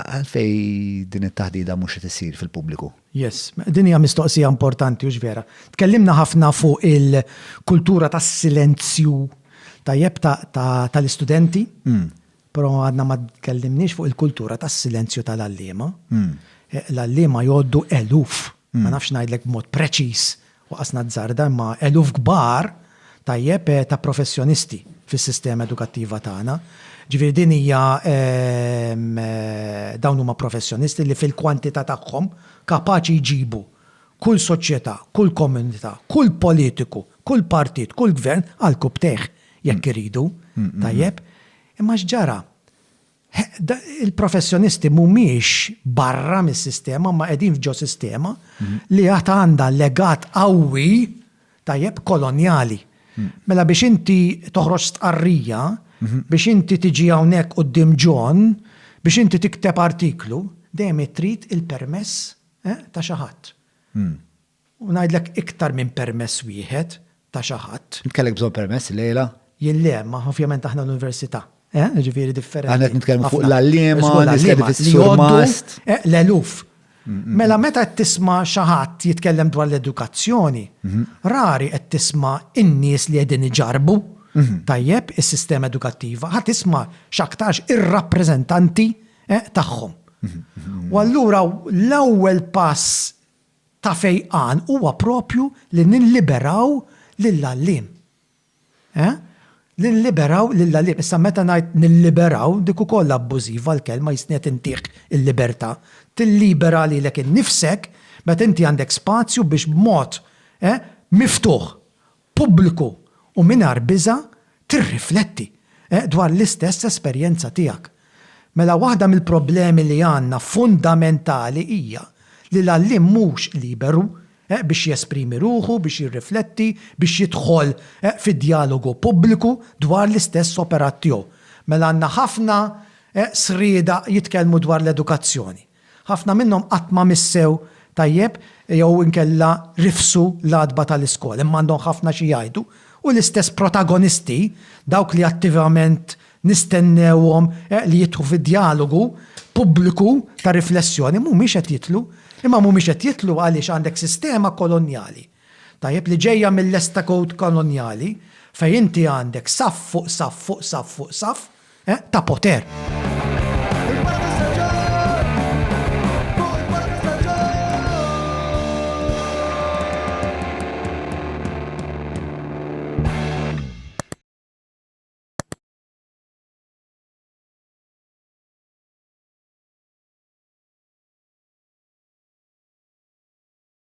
Għalfej din it-taħdida mhux qed issir fil-pubbliku? Yes, din hija mistoqsija importanti u vera. Tkellimna ħafna fuq il-kultura tas-silenzju tajjeb tal-istudenti, hmm. però għadna ma tkellimniex fuq il-kultura tas-silenzju tal-allima. Hmm. Eh, l-allima jgħoddu eluf, hmm. ma nafx ngħidlek b'mod preċiż u qasna azzarda imma eluf kbar, tajjeb, ta' professjonisti fis-sistema edukattiva tagħna. Ġifieri din hija dawn huma professjonisti li fil-kwantità tagħhom kapaċi jġibu kull soċjetà, kull komunità, kull politiku, kull partit, kull gvern għall-kupp tejh jekk iridu, tajjeb. Imma x'ġara? Il-professjonisti mhumiex barra mis-sistema imma qegħdin f'ġo sistema li għad għandha legat qawwi, tajjeb, kolonjali. Mela biex inti toħroġ stqarrija, biex inti tiġi hawnhekk quddiem John, biex inti tikteb artiklu, dejjem trid il-permess ta' xi ħadd. U ngħidlek iktar minn permess wieħed ta' xi ħadd. Int kellek bżonn permess illejla? Jien le, imma ovvjament aħna l-Università, eh, jiġifieri differenti. Aħna qed nitkellmu fuq l-għalliema, nies li qegħdin fis-Sur Mast. Eh, l-eluf. Mela meta qed tisma' xi ħadd jitkellem dwar l-edukazzjoni, rari qed tisma' in-nies li qegħdin iġarrbu, tajjeb, is-sistema edukattiva, ħa tisma' x'aktarx ir-rappreżentanti, eh, tagħhom. U allura l-ewwel pass ta' fejqan huwa proprju li nilliberaw lill-għalliem. Eh? Li nilliberaw lill-għalliem. Issa meta ngħid nilliberaw, dik ukoll abbużiva l-kelma, jistni qed intiek il-libertà. Tillibera lilek innifsek meta inti għandek spazju biex b'mod, eh, miftuħ pubbliku u mingħajr biża' tirrifletti dwar l-istess esperjenza tiegħek. Mela waħda mill-problemi li għandna fundamentali hija li l-għalliem mhux liberu biex jesprimi ruħu, biex jirrifletti, biex jidħol fi djalogu pubbliku dwar l-istess operat tiegħu. Mela għandna ħafna sriedaq jitkellmu dwar l-edukazzjoni. Ħafna minnhom qatt ma missew tajjeb jew inkella rifsu l-għatba tal-iskola, imma għandhom ħafna xi jgħidu, u l-istess protagonisti, dawk li attivament nistennewhom li jidħu fi djalogu pubbliku ta' riflessjoni, mhumiex qed jidħlu. Imma mhumiex qed jidħlu għaliex għandek sistema kolonjali. Tajjeb li ġejja mill-lesta kowt kolonjali fejn inti għandek saff fuq saff fuq saff fuq saff, eh, ta' poter.